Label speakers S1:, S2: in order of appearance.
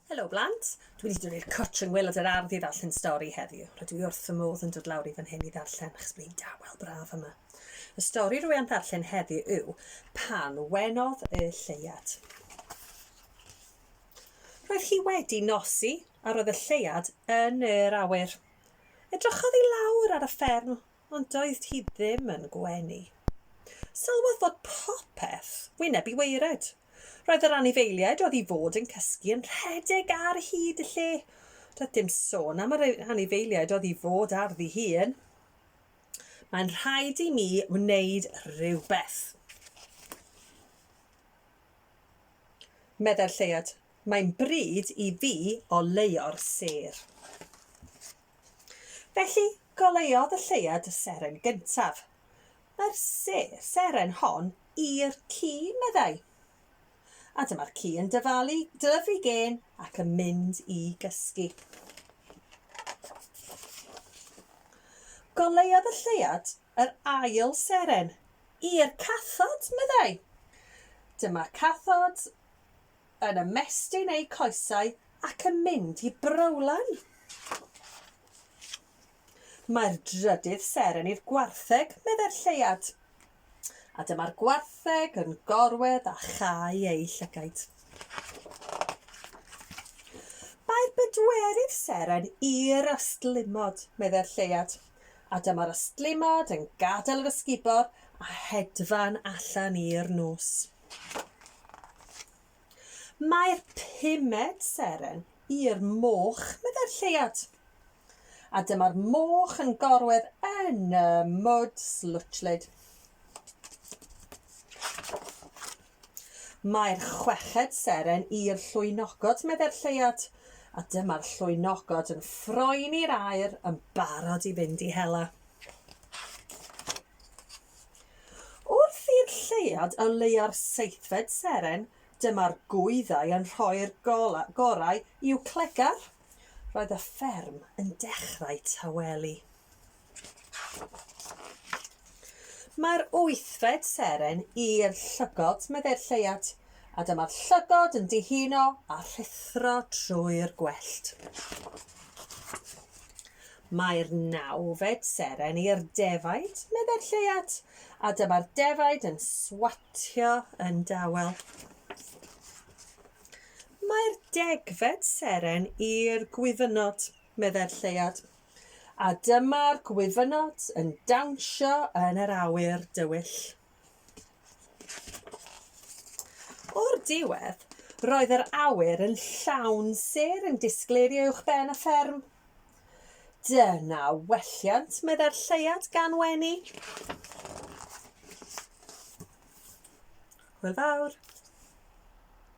S1: Helo blant, dwi wedi dod i'r cwtsh yn wylod yr ardd i ddarllen stori heddiw. Rydw i wrth fy modd yn dod lawr i fan hyn i ddarllen achos bod hi'n dawel braf yma. Y stori rwy am ddarllen heddiw yw Pan Wenodd y Lleuad. Roedd hi wedi nosi a roedd y lleuad yn yr awyr. Edrychodd i lawr ar y fferm ond doedd hi ddim yn gwenu. Sylwodd fod popeth wyneb i waered. Roedd yr anifeiliaid oedd i fod yn cysgu yn rhedeg ar hyd y lle. Doedd dim sôn am yr anifeiliaid oedd i fod ar ddi hun. Mae'n rhaid i mi wneud rhywbeth. Meddai'r lleiad, mae'n bryd i fi oleuo'r sêr. Felly, goleuodd y lleuad y seren gyntaf. Mae'r se seren hon i'r ci, meddai. A dyma'r ci yn dyfalu, dylyfu gên ac yn mynd i gysgu. Goleuodd y lleuad yr ail seren i'r cathod, meddai. Dyma cathod Yn ymestyn eu coesau ac yn mynd i browlau. Mae'r drydydd seren i'r gwartheg, meddai'r lleuad. A dyma'r gwartheg yn gorwedd a chau ei llygaid. Mae'r bedwerydd seren i'r ystlumod, meddai'r lleuad. A dyma'r ystlumod yn gadael yr ysgubor a hedfan allan i'r nos. Mae'r pumed seren i'r moch, meddai'r lleuad. A dyma'r moch yn gorwedd yn y mwd slwtllyd. Mae'r chweched seren i'r llwynogod, meddai'r lleuad, a dyma'r llwynogod yn ffroen i'r aer yn barod i fynd i hela. Wrth i'r lleuad o leuo'r seithfed seren, dyma'r gwyddau yn rhoi'r gorau i'w clegar. Roedd y fferm yn dechrau tawelu. Mae'r wythfed seren i'r llygod, meddai'r lleuad, a dyma'r llygod yn dihuno a rhuthro trwy'r gwellt. Mae'r nawfed seren i'r defaid, meddai'r lleuad, a dyma'r defaid yn swatio yn dawel. Mae'r degfed seren i'r gwyfynod, meddai'r lleuad, a dyma'r gwyfynod yn dawnsio yn yr awyr dywyll. O'r diwedd, roedd yr awyr yn llawn sêr yn disgleirio uwch ben y fferm. Dyna welliant, meddai'r lleuad gan wenu. Hwyl fawr.